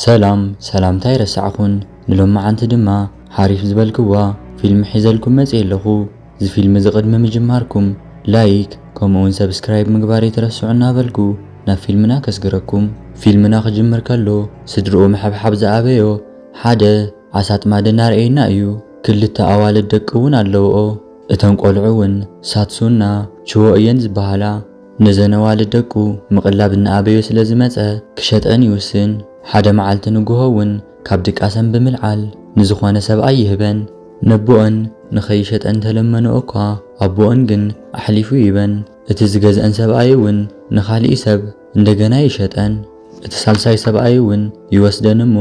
ሰላም ሰላምታ ኣይረሳዕኩን ንሎማዓንቲ ድማ ሓሪፍ ዝበልክዋ ፊልሚ ሒዘልኩም መጽየ ኣለኩ ዝፊልሚ እዚ ቅድሚ ምጅማርኩም ላይክ ከምኡ ውን ሰብስክራይብ ምግባር ኣይትረስዑ እናበልኩ ናብ ፊልምና ከስግረኩም። ፊልምና ክጅምር ከሎ ስድርኡ ምሕብሓብ ዝኣበዮ ሓደ ኣሳጥማዲ እናርኣየና እዩ ክልተ ኣዋልድ ደቂ ውን ኣለውኦ እተን ቆልዑ ውን ሳትሱና ችዎ እየን ዝበሃላ። ነዘን ኣዋልድ ደቁ ምቕላብ እናኣበዮ ስለ ዝመጸ፣ ክሸጠን ይውስን። ሓደ መዓልቲ ንጉሆ'ውን ካብ ድቃሰን ብምልዓል ንዝኾነ ሰብኣይ ይህበን። ነቦኦን ንኸይሸጠን ተለመንኦ'ኳ፣ ኣቦኦን ግን ኣሕሊፉ ይህበን። እቲ ዝገዝኣን ሰብኣይ'ውን ንኻሊእ ሰብ እንደገና ይሸጠን። እቲ ሳልሳይ ሰብኣይ'ውን ይወስደን'ሞ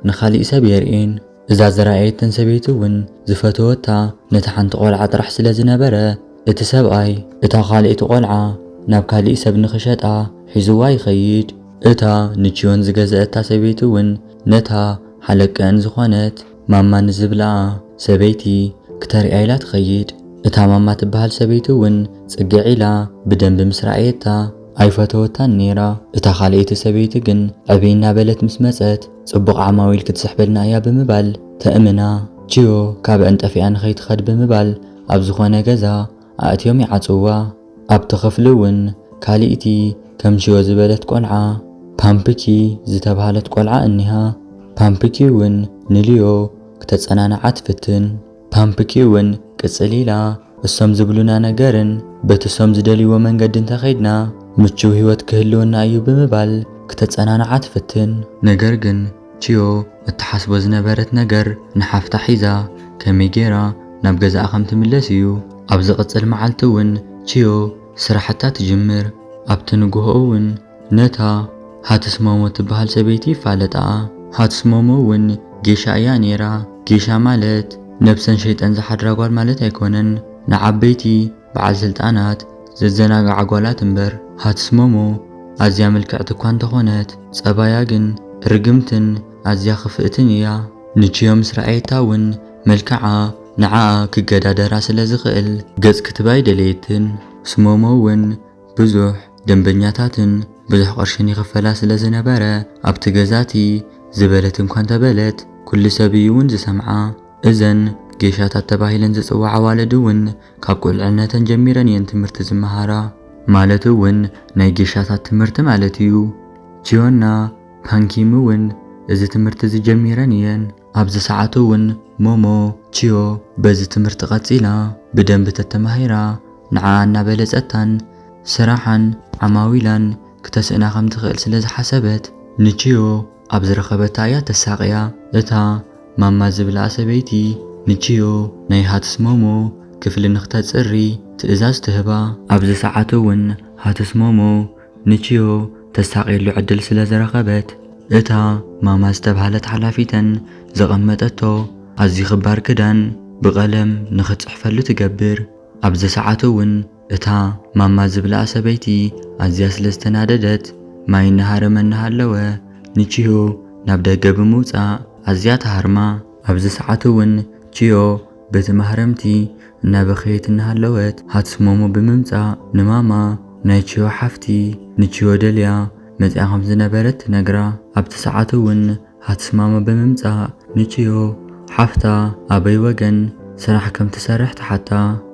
ንኻሊእ ሰብ የርእየን። እዛ ዝረኣየትን ሰበይቲ እውን ዝፈተወታ ነታ ሓንቲ ቆልዓ ጥራሕ ስለ ዝነበረ፣ እቲ ሰብኣይ እታ ካልኣይቲ ቆልዓ ናብ ካሊእ ሰብ ንኽሸጣ ሒዙዋ ይኸይድ። እታ ንቺዮን ዝገዘኣታ ሰበይቲ እውን ነታ ሓለቀኣን ዝኾነት ማማ ንዝብላኣ ሰበይቲ ክተርእያ ኢላ ትኸይድ። እታ ማማ ትበሃል ሰበይቲ እውን ፅግዕ ኢላ ብደንቢ ምስ ረኣየታ ኣይፈተወታን ነይራ። እታ ካልኣይቲ ሰበይቲ ግን ዕብይ እናበለት ምስ መፀት፣ ጽቡቕ ዓማዊል ክትስሕበልና እያ ብምባል ተእምና፣ ቺዮ ካብ ዕንጠፊኣ ንኸይትኸድ ብምባል ኣብ ዝኾነ ገዛ ኣእትዮም ይዓጽውዋ። ኣብቲ ክፍሊ እውን ካልእቲ ከም ቺዮ ዝበለት ቆልዓ ፓምፕኪ ዝተብሃለት ቆልዓ እኒሃ። ፓምፕኪ እውን ንሊዮ ክተጸናንዓ ትፍትን። ፓምፕኪ እውን ቅጽል ኢላ። እሶም ዝብሉና ነገርን በቲ እሶም ዝደልይዎ መንገዲ እንተኸይድና ምቹው ህይወት ክህልወና እዩ ብምባል ክተጸናንዓ ትፍትን። ነገር ግን ቺዮ እትሓስቦ ዝነበረት ነገር ንሓፍታ ሒዛ ከመይ ገይራ ናብ ገዛኣ ከም ትምለስ እዩ። ኣብ ዝቕጽል መዓልቲ እውን ቺዮ ስራሕታ ትጅምር። ኣብቲ ንግሆ እውን። ነታ ሃትስሞሞ ትበሃል ሰበይቲ ይፋለጣኣ ሃትስሞሞ ውን ጌሻ እያ ኔራ ጌሻ ማለት ነብሰን ሸይጠን ዝሓድራ ጓል ማለት ኣይኮነን ንዓበይቲ በዓል ስልጣናት ዘዘናግዓ ጓላት እምበር ሃትስሞሞ ኣዝያ ምልክዕቲ እኳ እንተኾነት ጸባያ ግን ርግምትን ኣዝያ ክፍእትን እያ ንችዮ ምስ ረኣየታ ውን መልክዓ ንዓኣ ክገዳደራ ስለ ዝኽእል ገጽ ክትባ ኣይደለየትን ስሞሞ ውን ብዙሕ ደንበኛታትን ብዙሕ ቅርሽን ይኽፈላ ስለ ዝነበረ፣ ኣብቲ ገዛ እቲ ዝበለት እኳ እንተ በለት፣ ኵሉ ሰብ እዩ እውን ዝሰምዓ። እዘን ጌሻታት ተባሂለን ዝጽውዓ ኣዋልድ እውን ካብ ቍልዕነተን ጀሚረን እየን ትምህርቲ ዝመሃራ። ማለት እውን ናይ ጌሻታት ትምህርቲ ማለት እዩ። ቺዮና ፓንኪም እውን እዚ ትምህርቲ እዚ ጀሚረን እየን። ኣብዚ ሰዓት እውን ሞሞ ቺዮ በዚ ትምህርቲ ቀፂላ ብደንቢ ተተማሂራ ንዓኣ እናበለፀታን ስራሓን ዓማዊላን ክተስእና ከምትኽእል ስለዝሓሰበት ንቺዮ ኣብ ዝረኸበታ እያ ተሳቕያ። እታ ማማ ዝብላኣ ሰበይቲ ንቺዮ ናይ ሃትስ ሞሞ ክፍሊ ንክተፅሪ ትእዛዝ ትህባ። ኣብዚ ሰዓት እውን ሃትስ ሞሞ ንቺዮ ተሳቕየሉ ዕድል ስለ ዝረኸበት፣ እታ ማማ ዝተብሃለት ሓላፊተን ዘቐመጠቶ ኣዝዩ ክባር ክዳን ብቐለም ንኽትጽሕፈሉ ትገብር። ኣብ ዘሰዓቱ'ውን እታ ማማ ዝብላኣ ሰበይቲ ኣዝያ ስለ ዝተናደደት ማይ እናሃረመ እናሃለወ ንቺዮ ናብ ደገ ብምውጻእ ኣዝያ ትሃርማ። ኣብ ዘሰዓቱ'ውን ቺዮ በቲ ማህረምቲ እናበኸየት እናሃለወት ሃትስ ሞሞ ብምምጻእ ንማማ ናይ ቺዮ ሓፍቲ ንቺዮ ደልያ መጺኣ ከም ዝነበረት ትነግራ። ኣብቲ ሰዓት'ውን ሃትስ ማማ ብምምጻእ ንቺዮ ሓፍታ ኣበይ ወገን ስራሕ ከም ትሰርሕ ትሓታ።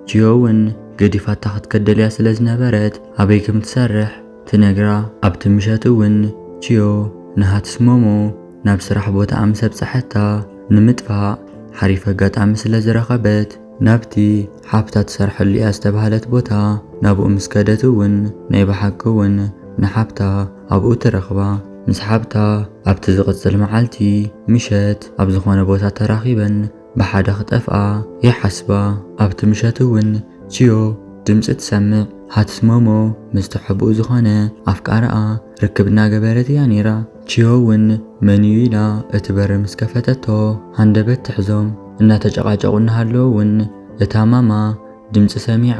ቺዮ'ውን ገዲፋታ ክትከድ ደልያ ስለ ዝነበረት ኣበይ ከም ትሰርሕ ትነግራ ኣብቲ ምሸት እውን ቺዮ ንሃትስ ሞሞ ናብ ስራሕ ቦታኣ ምስ ኣብጸሐታ ንምጥፋእ ሓሪፍ ኣጋጣሚ ስለ ዝረኸበት ናብቲ ሓፍታ ትሰርሐሉ እያ ዝተባህለት ቦታ ናብኡ ምስ ከደት እውን ናይ ብሓቂ እውን ንሓብታ ኣብኡ ትረኽባ። ምስ ሓብታ ኣብቲ ዝቕጽል መዓልቲ ምሸት ኣብ ዝኾነ ቦታ ተራኺበን ብሓደ ክጠፍኣ ይሓስባ። ኣብቲ ምሸት እውን ቺዮ ድምጺ ትሰምዕ። ሃትስሞሞ ምስ ተሐብኡ ዝኾነ ኣፍቃሪኣ ርክብ እናገበረት እያ ነይራ። ቺዮ እውን መን እዩ ኢላ እቲ በሪ ምስ ከፈተቶ ሃንደበት ትሕዞም። እናተጨቓጨቑ እናሃለዉ እውን እታ ማማ ድምጺ ሰሚዓ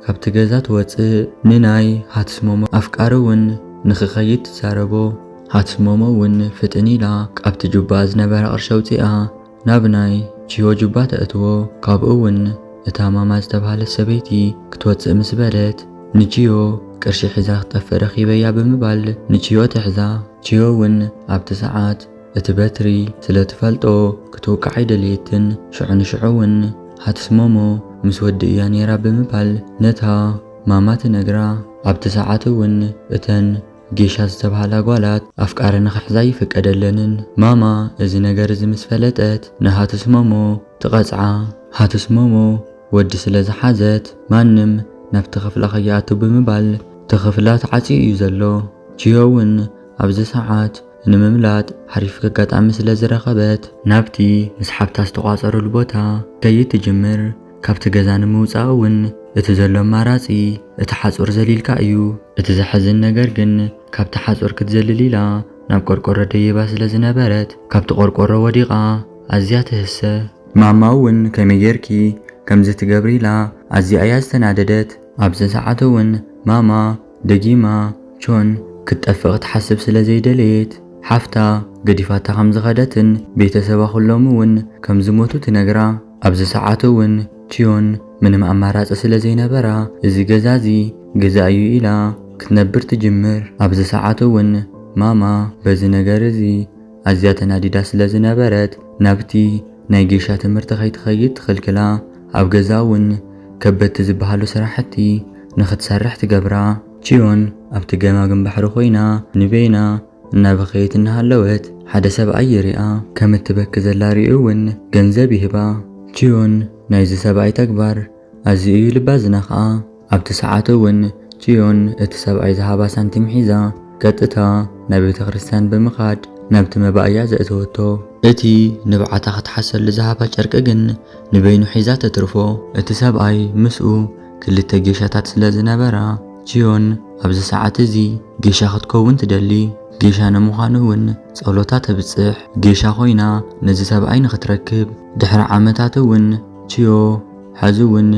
ካብቲ ገዛ ትወጽእ። ንናይ ሃትስሞሞ ኣፍቃሪ እውን ንክኸይድ ትዛረቦ። ሃትስሞሞ እውን ፍጥን ኢላ ካብቲ ጁባኣ ዝነበረ ቅርሺ ኣውጺኣ፣ ናብ ናይ ቺዮ ጁባ ተእትዎ፣ ካብኡ ውን እታ ማማ ዝተብሃለት ሰበይቲ ክትወጽእ ምስ በለት ንቺዮ ቅርሺ ሒዛ ክትጠፍእ ረኺበያ ብምባል ንቺዮ ትሕዛ፣ ቺዮ ውን ኣብቲ ሰዓት እቲ በትሪ ስለ ትፈልጦ ክትውቃዕ ኣይደለየትን፣ ሽዑ ንሽዑ ውን ሃትስ ሞሞ ምስ ወዲ እያ ኔራ ብምባል ነታ ማማ ትነግራ፣ ኣብቲ ሰዓት ውን እተን። ጌሻ ዝተብሃላ ጓላት ኣፍቃሪ ንኽሕዛ ኣይፍቀደለንን። ማማ እዚ ነገር እዚ ምስ ፈለጠት ንሃቱስ ሞሞ ትቐጽዓ። ሃቱስ ሞሞ ወዲ ስለ ዝሓዘት ማንም ናብቲ ክፍላ ከይኣቱ ብምባል እቲ ክፍላ ተዓጽዩ እዩ ዘሎ። ቺሆ እውን ኣብዚ ሰዓት ንምምላጥ ሓሪፍ ኣጋጣሚ ስለ ዝረኸበት። ናብቲ ምስ ሓብታ ዝተቋጸሩሉ ቦታ ከይድ ትጅምር። ካብቲ ገዛ ንምውጻእ እውን እቲ ዘሎ ኣማራጺ እቲ ሓጹር ዘሊልካ እዩ። እቲ ዘሕዝን ነገር ግን ካብቲ ሓጹር ክትዘልል ኢላ ናብ ቆርቆሮ ደይባ ስለ ዝነበረት ካብቲ ቆርቆሮ ወዲቓ ኣዝያ ትህሰ። ማማ እውን ከመይ ጌርኪ ከምዚ ትገብሪ ኢላ ኣዝያ እያ ዝተናደደት። ኣብዚ ሰዓት እውን ማማ ደጊማ ቾን ክትጠፍእ ክትሓስብ ስለ ዘይደለየት ሓፍታ ገዲፋታ ከም ዝኸደትን ቤተሰባ ኩሎም እውን ከም ዝሞቱ ትነግራ። ኣብዚ ሰዓት እውን ቺዮን ምንም ኣማራጺ ስለ ዘይነበራ እዚ ገዛ እዚ ግዛእ እዩ ኢላ ክትነብር ትጅምር። ኣብዚ ሰዓት እውን ማማ በዚ ነገር እዚ ኣዝያ ተናዲዳ ስለ ዝነበረት ናብቲ ናይ ጌሻ ትምህርቲ ከይትኸይድ ትኽልክላ፣ ኣብ ገዛ እውን ከበድቲ ዝበሃሉ ስራሕቲ ንኽትሰርሕ ትገብራ። ቺዮን ኣብቲ ገማግም ባሕሪ ኮይና ንበይና እናበኸየት እናሃለወት ሓደ ሰብኣይ ይሪኣ። ከም እትበኪ ዘላ ሪኡ እውን ገንዘብ ይህባ። ቺዮን ናይዚ ሰብኣይ ተግባር ኣዝዩ እዩ ልባ ዝነኽኣ። ኣብቲ ሰዓት እውን ቺዮን እቲ ሰብኣይ ዝሃባ ሳንቲም ሒዛ ቀጥታ ናብ ቤተ ክርስቲያን ብምኻድ ናብቲ መባእያ ዘእተወቶ። እቲ ንብዓታ ክትሓሰሉ ዝሃባ ጨርቂ ግን ንበይኑ ሒዛ ተትርፎ። እቲ ሰብኣይ ምስኡ ክልተ ጌሻታት ስለ ዝነበራ ቺዮን ኣብዚ ሰዓት እዚ። ጌሻ ክትከውን ትደሊ፣ ጌሻ ንምዃን እውን ጸሎታ ተብጽሕ፣ ጌሻ ኮይና ነዚ ሰብኣይ ንኽትረክብ። ድሕሪ ዓመታት እውን ቺዮ ሕዚ እውን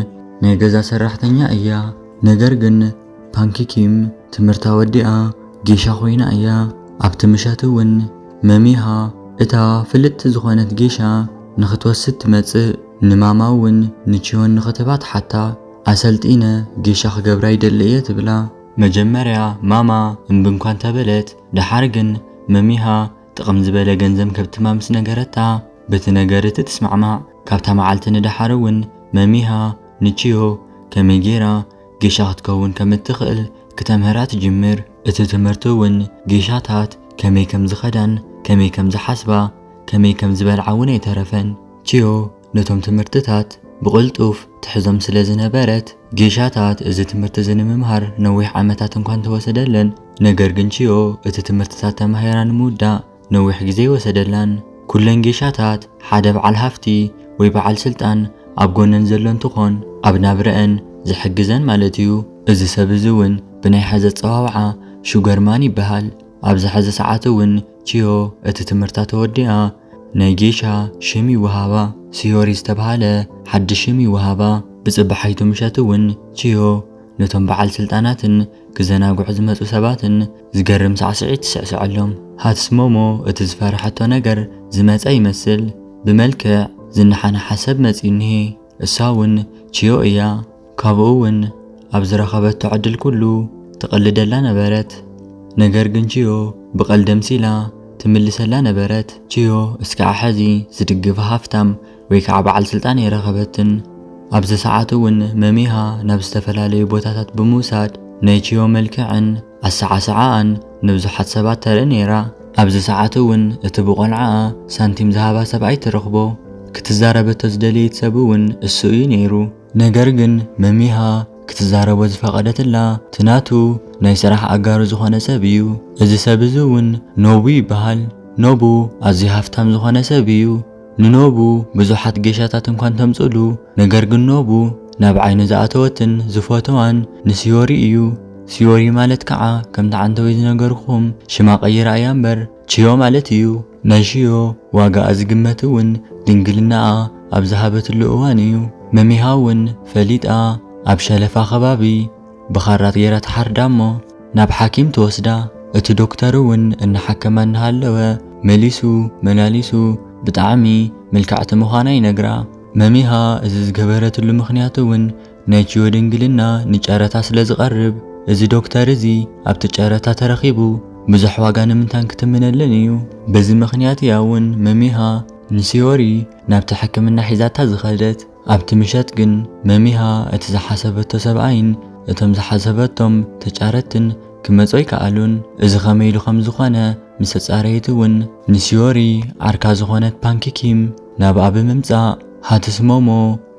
ናይ ገዛ ሰራሕተኛ እያ፣ ነገር ግን ፓንኪ ኪም ትምህርታ ወዲኣ ጌሻ ኮይና እያ። ኣብቲ ምሸት እውን መሚሃ እታ ፍልጥቲ ዝኾነት ጌሻ ንኽትወስድ ትመጽእ፣ ንማማ እውን ንቺዮን ንኽትህባ ትሓታ። ኣሰልጢነ ጌሻ ክገብራ ይደሊ እየ ትብላ። መጀመርያ ማማ እምቢ እኳ እንተበለት ደሓር ግን መሚሃ ጥቕም ዝበለ ገንዘም ከብትማ ምስ ነገረታ በቲ ነገር እቲ ትስማዕማዕ። ካብታ መዓልቲ ንደሓር እውን መሚሃ ንቺዮ ከመይ ገይራ ጌሻ ክትከውን ከም እትኽእል ክተምህራ ትጅምር። እቲ ትምህርቲ እውን ጌሻታት ከመይ ከም ዝኸዳን ከመይ ከም ዝሓስባ ከመይ ከም ዝበልዓ እውን ኣይተረፈን። ቺዮ። ነቶም ትምህርትታት ብቕልጡፍ ትሕዞም ስለ ዝነበረት፣ ጌሻታት እዚ ትምህርቲ እዚ ንምምሃር ነዊሕ ዓመታት እንኳ እንተ ወሰደለን፣ ነገር ግን ቺዮ እቲ ትምህርትታት ተማሂራ ንምውዳእ ነዊሕ ግዜ ኣይወሰደላን። ኵለን ጌሻታት ሓደ በዓል ሃፍቲ ወይ በዓል ስልጣን ኣብ ጐነን ዘሎ እንትዀን፣ ኣብ ናብራኣን ዝሕግዘን ማለት ኢዩ። እዚ ሰብ እዚ እውን ብናይ ሐዚ ኣጸዋውዓ ሹገርማን ይበሃል። ኣብዚ ሐዚ ሰዓት እውን ቺዮ እቲ ትምህርታ ተወዲኣ፣ ናይ ጌሻ ሽም ይወሃባ ስዮሪ ዝተብሃለ ሓድሽ ሽም ይወሃባ። ብጽባሒቱ ምሸት እውን ቺዮ ነቶም በዓል ስልጣናትን ክዘናግዑ ዝመጹ ሰባትን ዝገርም ሳዕስዒት ትስዕስዐሎም። ሃትስሞሞ እቲ ዝፈርሐቶ ነገር ዝመጸ ይመስል። ብመልክዕ ዝነሓነሓ ሰብ መጺኡ እኒሄ። እሳ እውን ቺዮ እያ። ካብኡ'ውን ኣብ ዝረኸበቶ ዕድል ኩሉ ትቕልደላ ነበረት። ነገር ግን ቺዮ ብቐልዲ ኣምሲላ ትምልሰላ ነበረት። ቺዮ እስካዕ ሕዚ ዝድግፋ ሃፍታም ወይ ከዓ በዓል ስልጣን ኣይረኸበትን። ኣብዚ ሰዓት'ውን መሚሃ ናብ ዝተፈላለዩ ቦታታት ብምውሳድ ናይ ቺዮ መልክዕን ኣሰዓስዓኣን ንብዙሓት ሰባት ተርኢ ነይራ። ኣብዚ ሰዓት'ውን እቲ ብቆልዓኣ ሳንቲም ዝሃባ ሰብኣይ ትረኽቦ። ክትዛረበቶ ዝደለየት ሰብ'ውን እሱ እዩ ነይሩ። ነገር ግን መሚሃ ክትዛረቦ ዝፈቐደትላ እቲ ናቱ ናይ ስራሕ ኣጋሩ ዝኾነ ሰብ እዩ። እዚ ሰብ እዚ እውን ኖቡ ይበሃል። ኖቡ ኣዝዩ ሃፍታም ዝኾነ ሰብ እዩ። ንኖቡ ብዙሓት ጌሻታት እንኳ እንተምፅእሉ ነገር ግን ኖቡ ናብ ዓይኑ ዝኣተወትን ዝፎትዋን ንሲዮሪ እዩ። ሲዮሪ ማለት ከዓ ከምቲ ዓንተወይ ዝነገርኹም ሽማ ቀይራ እያ እምበር ቺዮ ማለት እዩ። ናይ ሽዮ ዋጋኣ ዝግመት እውን ድንግልናኣ ኣብ ዝሃበትሉ እዋን እዩ። መሚሃ እውን ፈሊጣ ኣብ ሸለፋ ከባቢ ብኻራት ገይራ ትሓርዳ እሞ ናብ ሓኪም ትወስዳ። እቲ ዶክተር እውን እናሓከማ እናሃለወ መሊሱ መላሊሱ ብጣዕሚ ምልክዕቲ ምዃና ይነግራ። መሚሃ እዚ ዝገበረትሉ ምኽንያት እውን ነጂዮ ድንግልና ንጨረታ ስለ ዝቐርብ እዚ ዶክተር እዚ ኣብቲ ጨረታ ተረኺቡ ብዙሕ ዋጋ ንምንታን ክትምነለን እዩ። በዚ ምኽንያት እያ እውን መሚሃ ንሲዮሪ ናብቲ ሕክምና ሒዛታ ዝኸደት። ኣብቲ ምሸት ግን መሚሃ እቲ ዝሓሰበቶ ሰብኣይን እቶም ዝሓሰበቶም ተጫረትትን ክመጹ ኣይከኣሉን። እዚ ከመይ ኢሉ ከም ዝኾነ ምስ ተጻረየት እውን፣ ንሲዮሪ ዓርካ ዝኾነት ፓንኪ ኪም ናብኣ ብምምጻእ ሃትስ ሞሞ፣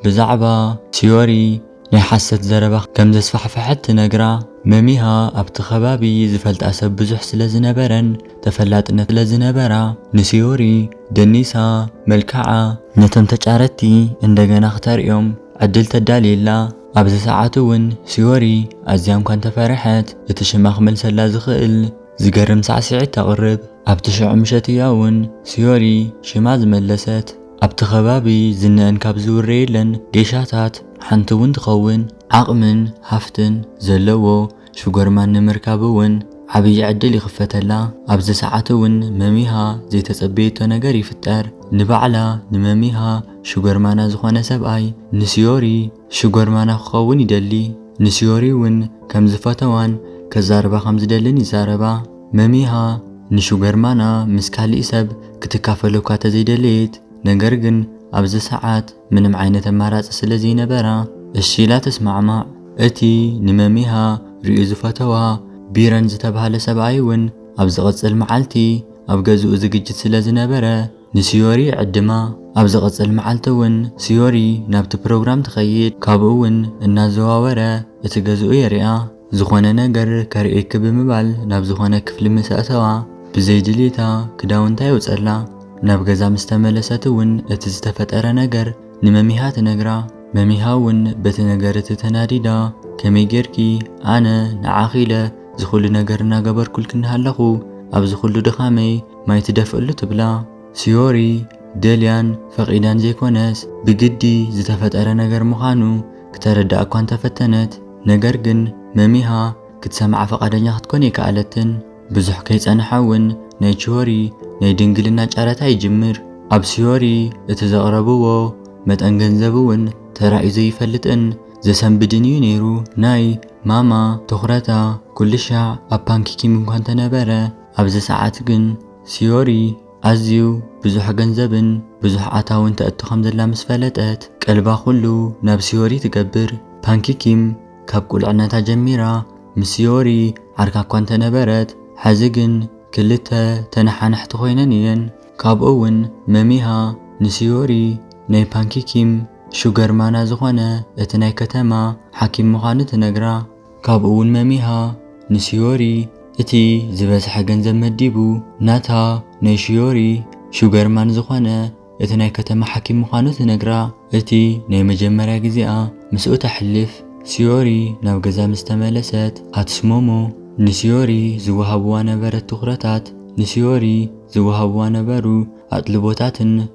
ብዛዕባ ቲዮሪ ናይ ሓሰት ዘረባ ከም ዘስፋሕፈሐት ትነግራ። መሚሃ ኣብቲ ከባቢ ዝፈልጣ ሰብ ብዙሕ ስለ ዝነበረን ተፈላጥነት ስለ ዝነበራ ንሲዮሪ ደኒሳ መልክዓ ነቶም ተጫረቲ እንደገና ክተርእዮም ዕድል ተዳልየላ። ኣብዚ ሰዓት እውን ሲዮሪ ኣዝያ እኳ እንተፈረሐት እቲ ሽማ ክመልሰላ ዝኽእል ዝገርም ሳዕስዒት ተቕርብ። ኣብቲ ሽዑ ምሸት እያ ውን ስዮሪ ሽማ ዝመለሰት። ኣብቲ ከባቢ ዝነኣን ካብ ዝውረየለን ጌሻታት ሓንቲ ውን ትኸውን። ዓቕምን ሃፍትን ዘለዎ ሽጎርማን ንምርካብ ውን ዓብዪ ዕድል ይኽፈተላ። ኣብዚ ሰዓት ውን መሚሃ ዘይተጸበየቶ ነገር ይፍጠር። ንባዕላ ንመሚሃ ሽጎርማና ዝኾነ ሰብኣይ ንስዮሪ። ሽጎርማና ክኸውን ይደሊ፣ ንስዮሪ እውን ከም ዝፈተዋን ከዛርባ ከም ዝደልን ይዛረባ። መሚሃ ንሽጎርማና ምስ ካሊእ ሰብ ክትካፈሎ እኳ ተዘይደለየት፣ ነገር ግን ኣብዚ ሰዓት ምንም ዓይነት ኣማራጺ ስለ ዘይነበራ እሺ ኢላ ተስማዕማዕ። እቲ ንመሚሃ ርእዩ ዝፈተዋ ቢረን ዝተባህለ ሰብኣይ እውን ኣብ ዝቕጽል መዓልቲ ኣብ ገዝኡ ዝግጅት ስለ ዝነበረ፣ ንስዮሪ ይዕድማ። ኣብ ዝቕጽል መዓልቲ እውን ስዮሪ ናብቲ ፕሮግራም ትኸይድ፣ ካብኡ እውን እናዘዋወረ እቲ ገዝኡ የርእያ። ዝኾነ ነገር ከርእየኪ ብምባል ናብ ዝኾነ ክፍሊ ምስ ኣእተዋ፣ ብዘይ ድልየታ ክዳውንታ የውጸላ። ናብ ገዛ ምስ ተመለሰት እውን እቲ ዝተፈጠረ ነገር ንመሚሃ ትነግራ። መሚሃ እውን በቲ ነገር እቲ ተናዲዳ፣ ከመይ ጌርኪ፣ ኣነ ንዓኺ ኢለ እዚ ኹሉ ነገር እናገበርኩልኪ እናሃለኹ፣ ኣብዚ ኹሉ ድኻመይ፣ ማይ ትደፍእሉ ትብላ ሲዮሪ ደልያን ፈቒዳን ዘይኮነስ ብግዲ ዝተፈጠረ ነገር ምኻኑ ክተረድኣ እኳ እንተፈተነት ነገር ግን መሚሃ ክትሰምዓ ፈቓደኛ ክትኮን ኣይከኣለትን። ብዙሕ ከይጸንሐ ውን ናይ ቺዮሪ ናይ ድንግልና ጨረታ ይጅምር። ኣብ ሲዮሪ እቲ ዘቕረብዎ መጠን ገንዘብ ውን ተራእዩ ዘይፈልጥን ዘሰንብድን እዩ ነይሩ። ናይ ማማ ትኹረታ ኩልሻዕ ኣብ ፓንኪኪም እኳ እንተነበረ፣ ኣብዚ ሰዓት ግን ሲዮሪ ኣዝዩ ብዙሕ ገንዘብን ብዙሕ ኣታውን ተእቱ ከም ዘላ ምስ ፈለጠት ቀልባ ኩሉ ናብ ሲዮሪ ትገብር። ፓንኪ ኪም ካብ ቁልዕነታ ጀሚራ ምስ ሲዮሪ ዓርካ እኳ እንተነበረት ሐዚ ግን ክልተ ተነሓነሕቲ ኮይነን እየን። ካብኡ ውን መሚሃ ንሲዮሪ ናይ ፓንኪ ኪም ሹገር ማና ዝኾነ እቲ ናይ ከተማ ሓኪም ምዃኑ ትነግራ። ካብኡ'ውን መሚሃ ንሺዮሪ እቲ ዝበዝሐ ገንዘብ መዲቡ፣ ናታ ናይ ሺዮሪ ሹገርማን ዝኾነ እቲ ናይ ከተማ ሓኪም ምዃኑ ትነግራ። እቲ ናይ መጀመርያ ግዜኣ ምስኡ ተሕልፍ ሺዮሪ ናብ ገዛ ምስ ተመለሰት፣ ኣትሱሞሞ ንሺዮሪ ዝወሃብዋ ነበረት ትኹረታት ንሺዮሪ ዝወሃብዋ ነበሩ ኣጥልቦታትን፣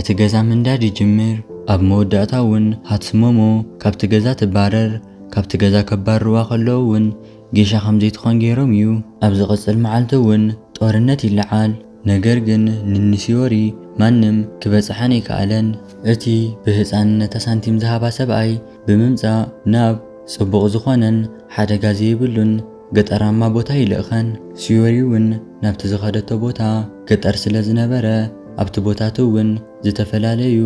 እቲ ገዛ ምንዳድ ይጅምር። ኣብ መወዳእታ ውን ሃትስ ሞሞ ካብቲ ገዛ ትባረር። ካብቲ ገዛ ከባርርዋ ከለዉ ውን ጌሻ ከምዘይትኾን ጌሮም ዩ። ኣብ ዝቕጽል መዓልቲ ውን ጦርነት ይለዓል። ነገር ግን ንንሲዮሪ ማንም ክበጽሓን ኣይከኣለን። እቲ ብህጻንነታ ሳንቲም ዝሃባ ሰብኣይ ብምምጻእ ናብ ጽቡቕ ዝኾነን ሓደጋ ዘይብሉን፣ ገጠራማ ቦታ ይልእኸን። ስዮሪ እውን ናብቲ ዝኸደቶ ቦታ ገጠር ስለ ዝነበረ ኣብቲ ቦታት እውን ዝተፈላለዩ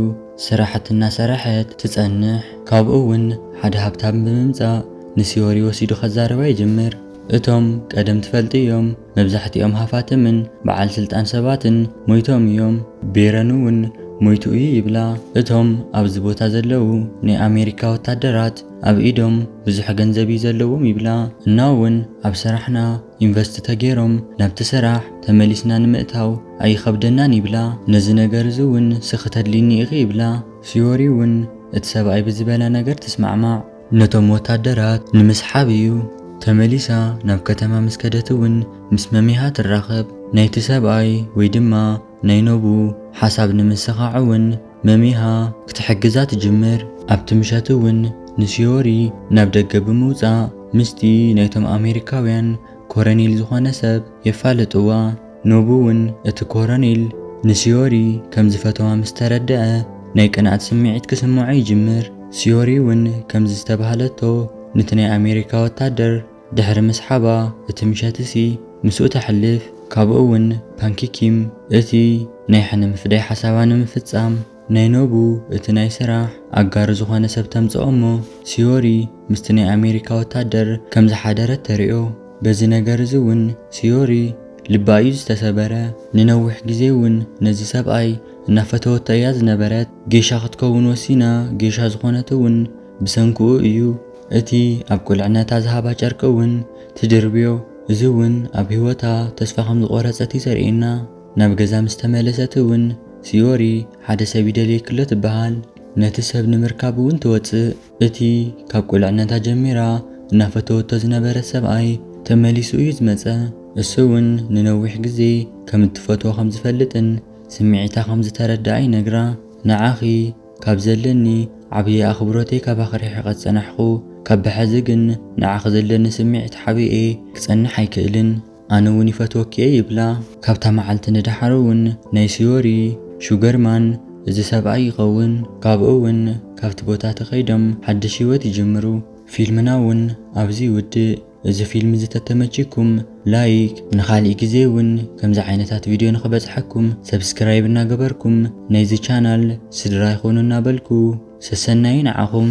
ስራሕቲ እናሰረሐት ትፀንሕ። ካብኡ እውን ሓደ ሃብታም ብምምፃእ ንስዮሪ ወሲዱ ከዛርባ ይጅምር። እቶም ቀደም ትፈልጥዮም መብዛሕቲኦም ሃፋትምን በዓል ስልጣን ሰባትን ሞይቶም እዮም። ቤረን እውን ሞይቱ እዩ ይብላ። እቶም ኣብዚ ቦታ ዘለዉ ናይ ኣሜሪካ ወታደራት ኣብ ኢዶም ብዙሕ ገንዘብ እዩ ዘለዎም ይብላ እና እውን ኣብ ሰራሕና ኢንቨስት ተገይሮም ናብቲ ሰራሕ ተመሊስና ንምእታው ኣይኸብደናን ይብላ ነዚ ነገር እዚ እውን ስኺ ተድልይኒ ኢኺ ይብላ ፍዮሪ እውን እቲ ሰብኣይ ብዝበላ ነገር ትስማዕማዕ ነቶም ወታደራት ንምስሓብ እዩ። ተመሊሳ ናብ ከተማ ምስ ከደት እውን ምስ መሚሃ ትራኸብ ናይቲ ሰብኣይ ወይ ድማ ናይ ኖቡ ሓሳብ ንምስኻዕ እውን መሚሃ ክትሕግዛ ትጅምር። ኣብቲ ምሸት እውን ንሲዮሪ ናብ ደገ ብምውጻእ ምስቲ ናይቶም ኣሜሪካውያን ኮረኔል ዝኾነ ሰብ የፋልጥዋ። ኖቡ እውን እቲ ኮረኔል ንሲዮሪ ከም ዝፈተዋ ምስ ተረድኣ ናይ ቅንኣት ስምዒት ክስምዖ ይጅምር። ሲዮሪ እውን ከምዚ ዝተባህለቶ ንቲ ናይ ኣሜሪካ ወታደር፣ ድሕሪ ምስሓባ እቲ ምሸትሲ ምስኡ ተሕልፍ፣ ካብኡ'ውን ፓንኪ ኪም እቲ ናይ ሕነ ምፍዳይ ሓሳባ ንምፍጻም ናይ ኖቡ እቲ ናይ ስራሕ ኣጋሩ ዝኾነ ሰብ ተምጽኦ'ሞ ሲዮሪ ምስቲ ናይ ኣሜሪካ ወታደር ከም ዝሓደረት ተርእዮ። በዚ ነገር'ዚ'ውን ሲዮሪ ልባ እዩ ዝተሰበረ። ንነዊሕ ግዜ'ውን ነዚ ሰብኣይ እናፈተወቶ እያ ዝነበረት። ጌሻ ክትከውን ወሲና፣ ጌሻ ዝኾነት'ውን፣ ብሰንክኡ እዩ እቲ ኣብ ቁልዕነታ ዝሃባ ጨርቂ እውን ትድርብዮ፣ እዚ እውን ኣብ ህይወታ ተስፋ ከም ዝቖረጸት እዩ ዘርእየና። ናብ ገዛ ምስ ተመለሰት እውን ሲዮሪ ሓደ ሰብ ይደልየኪ ኣሎ ትበሃል። ነቲ ሰብ ንምርካብ እውን ትወጽእ። እቲ ካብ ቁልዕነታ ጀሚራ እናፈተወቶ ዝነበረት ሰብኣይ ተመሊሱ እዩ ዝመጸ። እሱ እውን ንነዊሕ ግዜ ከም እትፈትዎ ከም ዝፈልጥን ስምዒታ ከም ዝተረደኣ ይነግራ። ንዓኺ? ካብ ዘለኒ ዓብይ ኣኽብሮተይ ካባኺ ርሒቐ ዝፀናሕኹ ካብ ብሐዚ ግን ንዓኺ ዘለኒ ስምዒት ሓቢኤ ክፀንሕ ኣይክእልን ኣነ እውን ይፈትወኪ እየ ይብላ። ካብታ መዓልቲ ንደሓር እውን ናይ ስዮሪ፣ ሹገር ማን፣ እዚ ሰብኣይ ይኸውን። ካብኡ እውን ካብቲ ቦታ ተኸይዶም ሓድሽ ህይወት ይጅምሩ። ፊልምና እውን ኣብዚ ይውድእ። እዚ ፊልም እዚ ተተመቺኩም ላይክ ንኻሊእ ግዜ እውን ከምዚ ዓይነታት ቪድዮ ንኽበጽሓኩም ሰብስክራይብ እናገበርኩም ናይዚ ቻናል ስድራ ይኹኑ እናበልኩ ሰሰናዩ ንዓኹም።